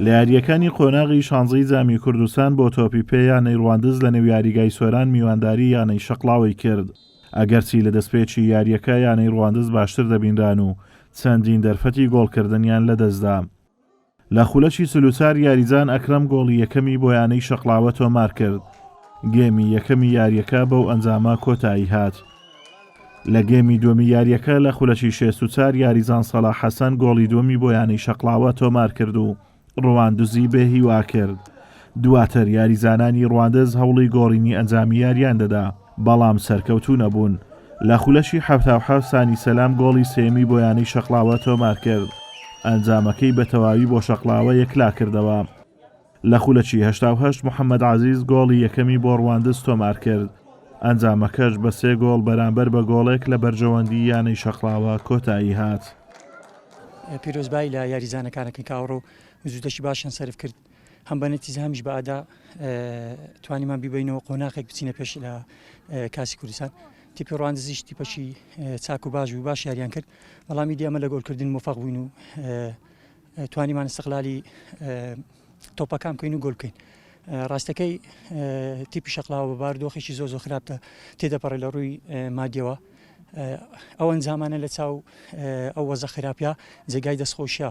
لە یارییەکانی قۆناغی شانزەی جامی کوردستان بۆ تۆپی پێ یانەی ڕواندز لە نێو یاریگای سۆران میوانداری یانەی شەقڵاوەی کرد، ئەگەرچی لە دەستپێکی یارییەکە یانەی ڕواندز باشتر دەبینران و چەندین دەرفەتی گۆڵکردنیان لەدەستدا. لە خولەکی چل و چوار یاریزان ئەکرەم گۆڵی یەکەمی بۆ یانەی شەقڵاوە تۆمارکرد. گێمی یەکەمی یارییەکە بەو ئەنجامە کۆتایی هات. لە گێمی دووەمی یارییەکە لە خولەکی شێست و چار یاریزان سەڵاح حەسەن گۆڵی دووەمی بۆ یانەی شەقڵاوە تۆمارکرد و ڕواندزی بێ هیوا کرد. دواتر یاریزانانی ڕواندز هەوڵی گۆڕینی ئەنجامی یارییان دەدا، بەڵام سەرکەوتوو نەبوون. لە خولەکی حەفتا و حەفت سانی سەلام گۆڵی سێیەمی بۆ یانەی شەقڵاوە تۆمارکرد. ئەنجامەکەی بەتەواوی بۆ شەقڵاوە یەکلاکردەوە. لە خولەکی هەشتا و هەشت محەمەد عەزیز گۆڵی یەکەمی بۆ ڕواندز تۆمارکرد، ئەنجامەکەش بە سێ گۆڵ بەرامبەر بە گۆڵێک لە بەرژەوەندی یانەی شەقڵاوە کۆتایی هات. پیرۆزبایی لە یاریزانە کانەکەن کە ئەوڕۆ زودەکی باشیان سەرف کرد هەم بە نەتیزە هەمیش بە ئادا توانیمان بیبینەوە قۆناخێک بچینە پێش لە کاسی کوردستان تیپی ڕواندزیش تیپەشی چاک و باش و باش یاریان کرد بەڵامی دیێمە لە گۆلکردن مفاق بووین و توانیمان ئیستغلالی تۆپەکان بکەین و گۆل بکەین ڕاستەکەی تیپی شەقلاوە بە باردۆخێکی زۆ زۆ خراپتە تێدەپەڕێ لە ڕووی مادیەوە ئەو ئەنجامانە لە چاو ئەو وەزە خراپە جێگای دەستخۆشە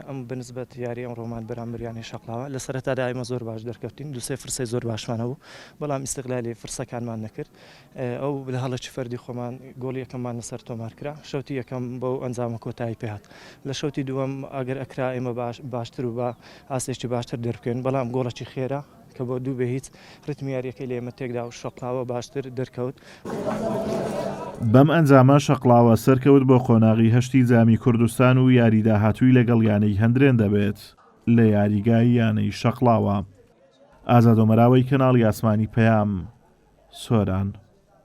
ئەم بنسبەت یاری ئەم ڕۆمان بەرامبریانی شەقلاوە لە سەرەتادا ئمە زۆر باش دەرکەوتین دوسێ فرسەی زۆر باشمانەوە بەڵام ئیسقلالی فرسەکانمان نەکرد ئەو بنەهەڵە چ فەردی خۆمان گۆڵی یەکەممان لەسەر تۆمار کرا شەوتی یەکەم بەو ئەنجامە کۆتایی پێهات لە شەوتی دووەم ئەگەر ئەکرا ئێمە باش باشتر و بە ئاستێکی باشتر دەربکەین بەڵام گۆڵەکی خێرا کە بۆ دوو بێ هیچ ڕتمی یاریەکەی لە ئێمە تێکدا و شەقڵاوە باشتر دەرکەوت. بەم ئەنجامە شەقڵاوە سەرکەوت بۆ قۆناغی هەشتی جامی کوردستان و یاری داهاتووی لەگەڵ یانەی هەندرێن دەبێت لە یاریگای یانەی شەقڵاوە. ئازادۆمەراوەی کەناڵی ئاسمانی پەیام سۆران.